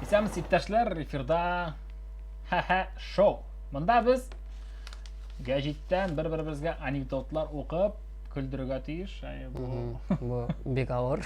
Исәнмесез иптәшләр, эфирда Ха-ха шоу. Монда без гәҗиттән бер-беребезгә анекдотлар укып, көлдерергә тиеш. Бу бик авыр.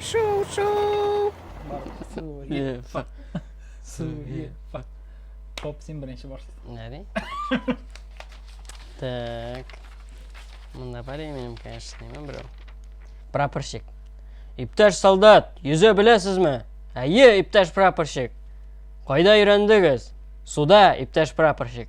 Шоу, шоу! Суе, фак. Суе, фак. Поп син беренче барсын. Нәре? Так. Мында бар минем, конечно, неме берәү. Прапорщик. Иптәш солдат, йөзә беләсезме? Әйе, иптәш прапорщик. Кайда өйрәндегез? Суда, иптәш прапорщик.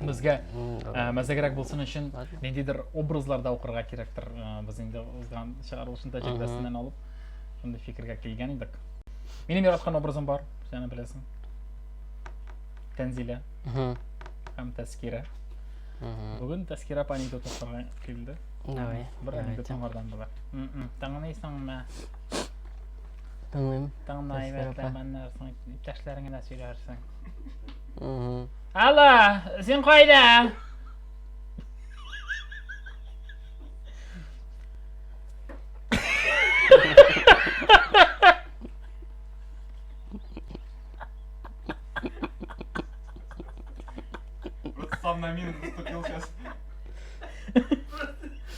безгә э, мәзәгрәк булсын өчен ниндидер образларда укырга кирәктер. Э, без инде узган чыгарылышын тәҗрибәсеннән алып шундый фикергә килгән идек. Минем яраткан образым бар, сәне беләсең. Тәнзилә. Һәм Тәскирә. Бүген Тәскирә апа анекдот укырга килде. Давай. Бер анекдот аңардан була. Таңнайсың мә? Тыңлыйм. Таңнай, бәлкем, аннарсың, иптәшләреңә сөйләрсең. Угу. Алло, син кайда? Сам на мину наступил сейчас.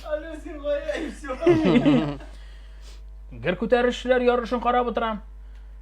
Алло, син кайда и все. Гер күтәрүчеләр ярышын карап утырам.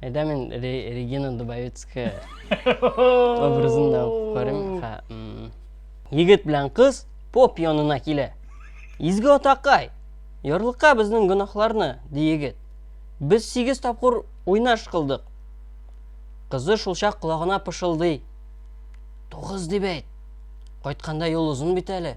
Әйдә мин Регина Дубовицкая образын да укып карыйм. Егет белән кыз поп янына килә. Изге атакай, ярлыка безнең гөнаһларны, ди егет. Без сигез тапкыр уйнаш кылдык. Кызы шулчак колагына пышылдый. Тугыз дип әйт. Кайтканда юл озын бит әле.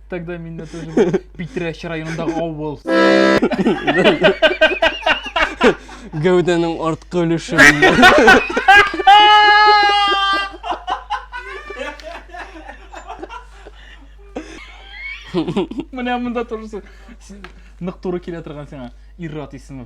Тогда меня тоже было. Питрәш районындағы авыл. Гәүдәнең арткы өлеше. Менә монда торырсың. Син Нык туры килә торган сиңа. Иррат исеме.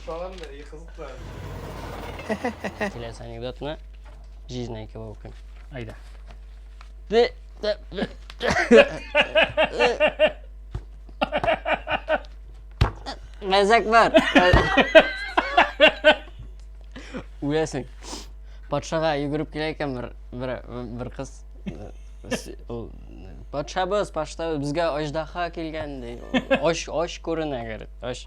Салам да, и кызыклы. Киләсе анекдотны җизнә икәү укыйм. Айда. Ды, ды, ды. Мәзәк бар. Үләсең. Патшага йөгереп килә икән бер бер бер кыз. Ул патшабыз, патшабыз безгә аждаһа килгән ди. Оч оч күренә, говорит. Оч.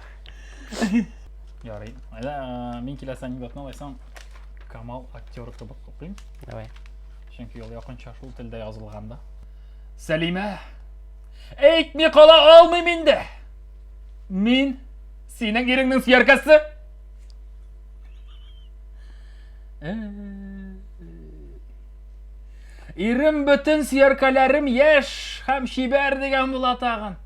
Ярый. Әллә э, мин киләсе анекдотны алайсаң Камал актер кебек укыйм. Давай. Чөнки ул якынча шул телдә язылган да. Сәлимә! Әйтми кала алмыйм инде! Мин синең иреңнең сөяркәсе! Э, Ирем бөтен сөяркәләрем яшь һәм чибәр дигән була тагын.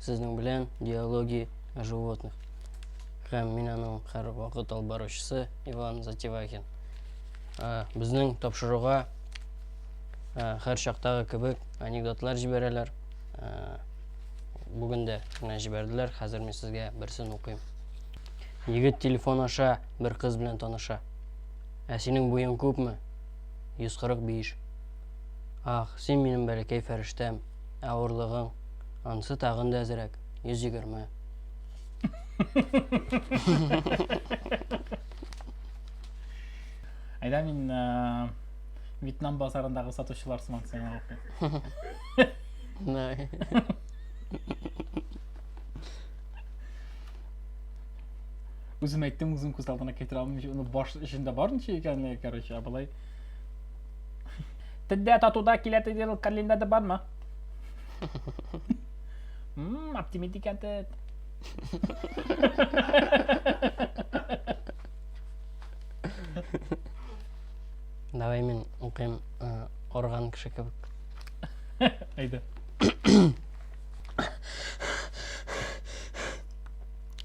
Сезнең белән диалоги о животных. Һәм мин аның һәрвакыт алып баручысы Иван Затевахин. Ә, Безнең тапшыруга ә, һәр чактагы кебек анекдотлар җибәрәләр. Ә, Бүген дә менә җибәрделәр, хәзер мин сезгә берсен укыйм. Егет телефон аша бер кыз белән таныша. Ә синең буең күпме? 145. Ах, син минем бәләкәй фәрештәм, Ә урлыгың? Ансы тагын да әзрәк, 120. Айда мин э, Вьетнам базарындагы сатучылар сымак сиңа укыйм. Най. Үзем әйттем, үзем күз алдына китерә алмыйм. Уны баш эчендә бар ничә икәнлеге, короче, ә болай Тендә татуда килә диген календада бармы? Мм, оптимист икән тед. Давай мин укыйм орган кеше кебек. Әйдә.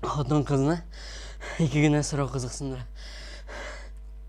Хатын кызны ике генә сорау кызыксындыра.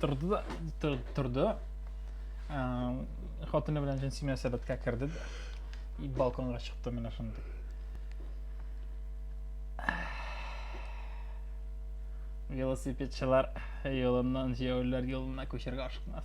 Торды да, тор- торды. Ә, Хатыны белән җенси мөнәсәбәткә керде дә. И балконга чыкты менә шундый. Велосипедчылар юлыннан җәяүлеләр юлына күчәргә ашыкмас.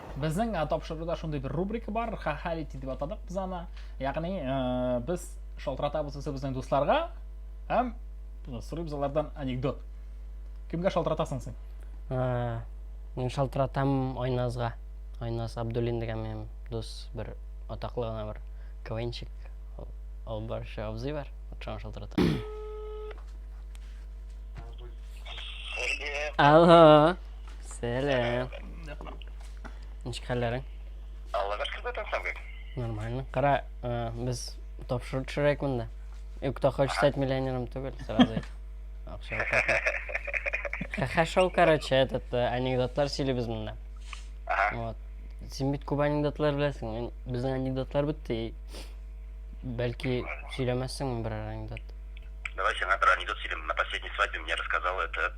Безнең э, тапшыруда шундый бер рубрика бар, хахалити дип атадык без аны. Ягъни э, без шалтыратабыз үзебезнең дусларга һәм сорыйбыз алардан анекдот. Кемгә шалтыратасың син? Э, мин шалтыратам Айназга. Айназ Абдуллин дигән минем дус бер атаклы гына бер квенчик. Ул барча абзый бар. Шуңа шалтыратам. Алло. Сәлам. Ничек хәлләрең? Аллага шөкер бүтән сәнгек. Нормально. Кара, э, без тапшыру төшерәк монда. И кто хочет стать миллионером түгел, сразу әйт. Акча алып. Ха шоу, короче, этот э, анекдотлар сөйлибез монда. Ага. Вот. Син бит күп анекдотлар беләсең. Мин безнең анекдотлар бетте. и Бәлки сөйләмәссең бер анекдот. Давай сиңа бер анекдот сөйлим. На последней свадьбе мне рассказал это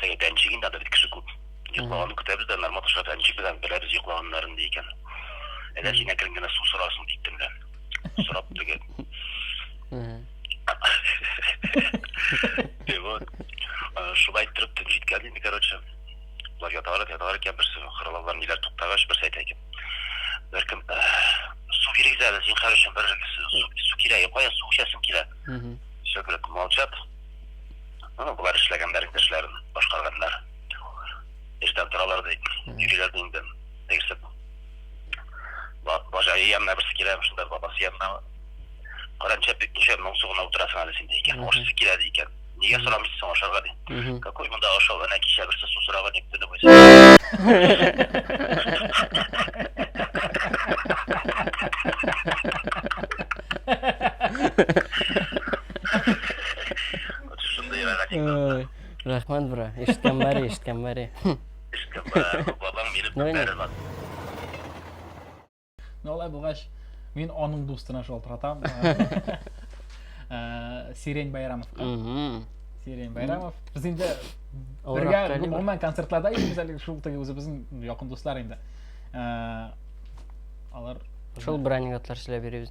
Сәй бәнчеген дә бит кеше күп. Йоклаганын көтәбез дә, Нармат аша бәнчек белән беләбез йоклаганнарын, ди икән. Әгәр син әкрен генә су сорасын, дип төнлә. Сорап түгел. И вот. Шулай иттереп төн җиткән инде, короче. Болар яталар, яталар икән, берсе хыралалар, ниләр туктагач, берсе әйтә икән. Беркем су кирәк әле, зинхар өчен бер су кирәк, кая су эчәсең килә. Все, говорит, молчат. Ну, болар эшләгәннәр инде эшләрен, башкарганнар. Эштән торалар ди, йөриләр ди инде. Тегесе бажай янына берсе килә, шунда бабасы янына. Каранча бик ничә моң сугына утырасың әле син ди икән. Ашысы килә ди икән. Нигә сорамыйсың соң ашарга ди. Какой монда ашау, әнә кичә берсе су сораган ник төне буе. Шундый рәхәт. Рәхмәт, бра. Ишеткән бәре, ишеткән бәре. Ишеткән бәре. Бабам мине күтәрә лат. Ну, алай булгач, мин аның дустына шалтыратам. Э, Сирень Байрамовка. Сирень Байрамов. Без инде бергә гомумән концертларда йөрибез әле шул теге үзебезнең якын дуслар инде. Э, алар Шул бер анекдотлар сөйләп йөрибез.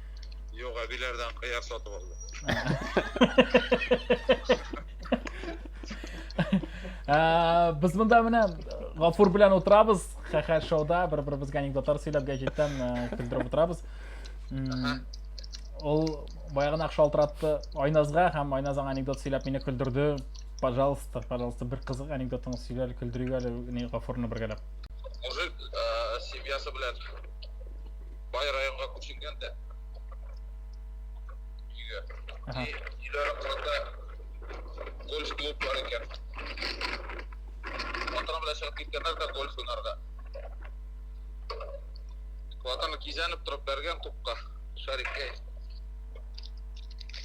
Юк, әбиләрдән кыяр сатып алдым. Ә, Без монда менә Гафур белән утырабыз, хәхәр шоуда бер-беребезгә анекдотлар сөйләп гәҗиттән ә, көлдереп утырабыз. М, Ул баягына шалтыратты Айназга һәм Айназ аңа анекдот сөйләп мине көлдерде. Пожалуйста, пожалуйста, бер кызык анекдотыңны сөйлә әле, көлдерик әле ни Гафурны бергәләп. Мужик э, семьясы белән Бай районга күченгән дә. Өйгә. Ага. Өйлә аракылында гольф клуб бар икән. Батырым белән чыгып киткәннәр дә гольф уйнарга. Батырым кизәнеп торып бәргән тупка, шарикка.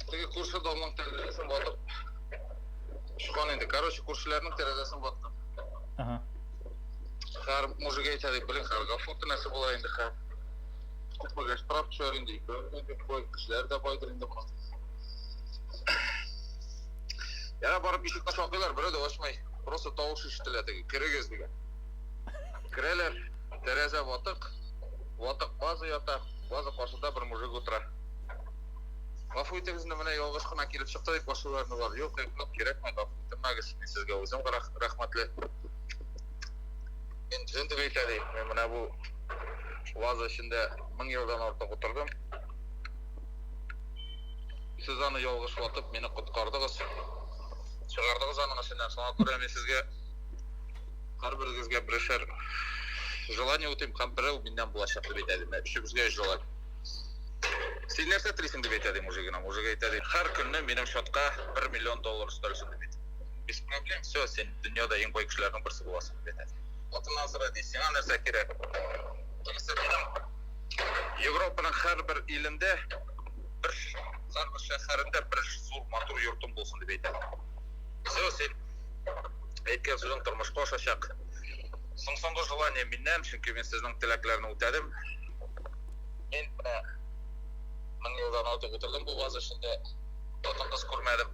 Теге күрше домның тәрәзәсен ватып. Шуган инде. Короче, күршеләрнең тәрәзәсен ваттым. Ага. Хәр мужик әйтә дип белең, хәр гафу тенәсе була инде хәр. Күпмегә штраф төшәр инде, икәүне дип кой, кешеләр дә байдыр инде моны. Яна барып ишекне шакыйлар, берәү дә ачмый. Просто тавыш ишетелә теге, керегез дигән. Керәләр, тәрәзә ватык, ватык база ята, база каршында бер мужик утыра. Гафу итегез, инде менә ялгыш кына килеп чыкты дип башлыйлар, юк, юк, кирәкми, гафу итмәгез, мин сезгә үзем рәх- рәхмәтле. Интеллент дип әйтә ди. Мин менә бу ваза эчендә мең елдан артык утырдым. Сез аны ялгыш ватып, мине коткардыгыз. Чыгардыгыз аның эченнән. Шуңа күрә мин сезгә һәрберегезгә берәшәр желание үтим һәм берәү миннән булачак дип әйтә ди. Өчебезгә өч желание. Син нәрсә телисең дип әйтә ди мужигына. Мужик әйтә ди, һәр көнне минем счетка 1 миллион доллар өстәлсен дип әйтә. без проблем все сен дөньяда ең бай кешеләрнең берсе буласың дип әйтә атыңнан сора ди сиңа нәрсә кирәк европаның һәрбер илендә бер һәрбер шәһәрендә бер зур матур йортың булсын дип әйтә все сен әйткән сүзең тормышка ашачак соң соңгы желание миннән чөнки мин сезнең теләкләрне үтәдем мин менә мең елдан артык утырдым бу ваз эчендә хатын кыз күрмәдем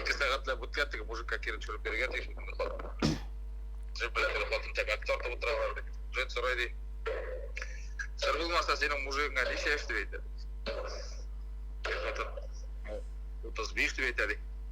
Ике сәгатьләп үткән теге мужикка кире төшереп бирергә тиеш инде моны хатын. Җеп белән теге хатын тәмәке тартып утыралар ди. Җен сорый ди. Сер булмаса синең мужигыңа ничә яшь дип әйтә? Теге хатын 35 дип әйтә ди.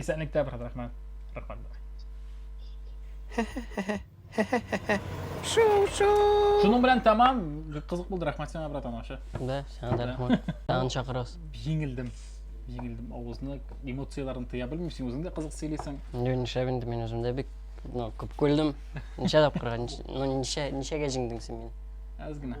Исәнлек тә, брат, рәхмәт. Рәхмәт. Шуның белән тәмам, кызык булды, рәхмәт сиңа, брат, анашы. Да, сиңа да рәхмәт. Тагын чакырасыз. Җиңелдем. Җиңелдем. Авызны эмоцияләрен тыя белмисең, үзең дә кызык сөйлисең. Инде нишләп инде мин үзем дә бик ну, күп күлдем. Ничә тапкырга, ну, ничә, ничәгә җиңдең син мине? Әз генә.